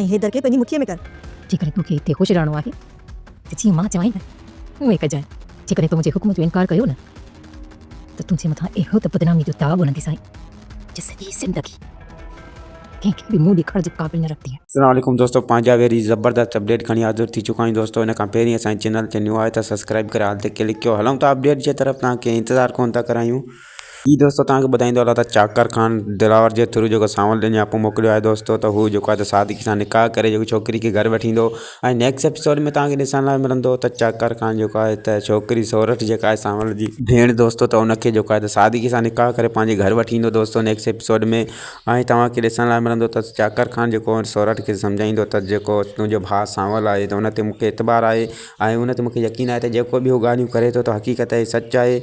۽ حيدر کي پنهنجي مٺيء ۾ ڪر. جيڪڏهن تو کي هتي خوش رهڻو آهي ته جيئن مان چوانء ٿي اهو ئي ڪجانء. جيڪڏهن تو منهنجي حڪم جو انڪار ڪيو نه ته تنهنجي مٿان اهڙو ته بدناميء جو داغ هڻنديسانء جو سڄي زندگي ڪنهن کي به منهن ڏيکارڻ جي قابل نه رهندينء. اسلام عليڪم دوستو پنهنجا ويري زبردست اپڊيٽ کڻي حاضر ٿي چڪا آهيون دوستو ان کان پهرين اسان جي چينل تي نيو آهيو ته سبسڪرائيب ڪري آل تي ڪلڪ ڪيو هلون ٿا اپڊيٽ جي طرف توهان کي انتظار ڪونه ٿا ڪرايون. جي دوستو توهان کي ٻڌائيندو هلان ته چاڪر خان دلاور جي ٿرو جيڪو سانول ڏينھن جاپو موڪليو آهي دوستو ته هو جيڪو آهي ته سادگي سان نڪاح ڪري جيڪو ڇوڪري کي گهر وٺي ايندو ۽ نيڪسٽ ايپيسوڊ ۾ توهان کي ڏسڻ لاء ملندو ته چاڪر خان جيڪو آهي ته ڇوڪري سورٺ جيڪا آهي سانول جي ڀيڻ دوستو ته ان کي جيڪو آهي ته سادگي سان نڪاح ڪري پنهنجي گهر وٺي ايندو دوستو نيڪسٽ ايپيسوڊ ۾ ۽ توهان کي ڏسڻ لاء ملندو ته چاڪر خان جيڪو آهي سورٺ کي سمجهائيندو ته جيڪو تنهنجو ڀاء سانول آهي ته ان تي مون کي اعتبار آهي ۽ ان تي مون کي يقين آهي ته جيڪو به هو ڳالهيون ڪري ٿو ته حقيقت آهي سچ آهي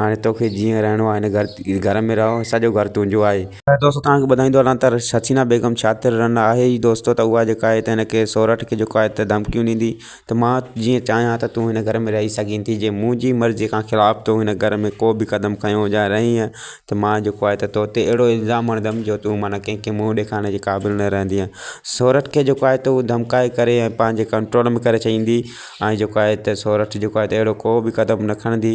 هاڻي توکي جيئن رهڻو آهي هن گهر ۾ رهه سڄو گهر تنهنجو آهي. دوستو توهان کي ٻڌائيندو هلان ته حسينا بيگم شاطر رن آهي ئي دوستو ته اها جيڪا آهي ته هن کي سورٺ کي جيڪو آهي ته ڌمڪيون ڏيندي ته مان جيئن چاهيان ته تون هن گهر ۾ رهي سگهين ٿي جي منهنجي مرضي کان خلاف تو هن گهر ۾ ڪو به قدم کنيو يا رهينء ته مان جيڪو آهي ته توتي اهڙو الزام هڻندم جو تون معنيٰ ڪنهن کي منهن ڏيکارڻ جي قابل نه رهندينء سورٺ کي جيڪو آهي ته هو ڌمڪائي ڪري ۽ پنهنجي ڪنٽرول ۾ ڪري ڇڏيندي ۽ جيڪو آهي ته سورٺ جيڪو آهي ته اهڙو ڪو به قدم نه کڻندي.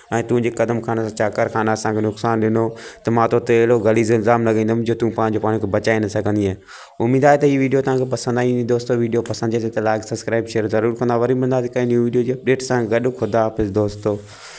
۽ تون جي قدم خان سان چاڪر خان اسان کي نقصان ڏنو ته مان تو تي اهڙو غليظ الزام لڳائيندم جو تون پنهنجو پاڻ کي بچائي نه سگهندينء اميد آهي ته هي وڊيو توهان کي پسند آئي هوندي دوستو وڊيو پسند اچي ته لائڪ سبسڪرائب شيئر ضرور ڪندا وري ملنداسين ڪنهن نئين وڊيو جي اپڊيٽ سان گڏ خدا حافظ دوستو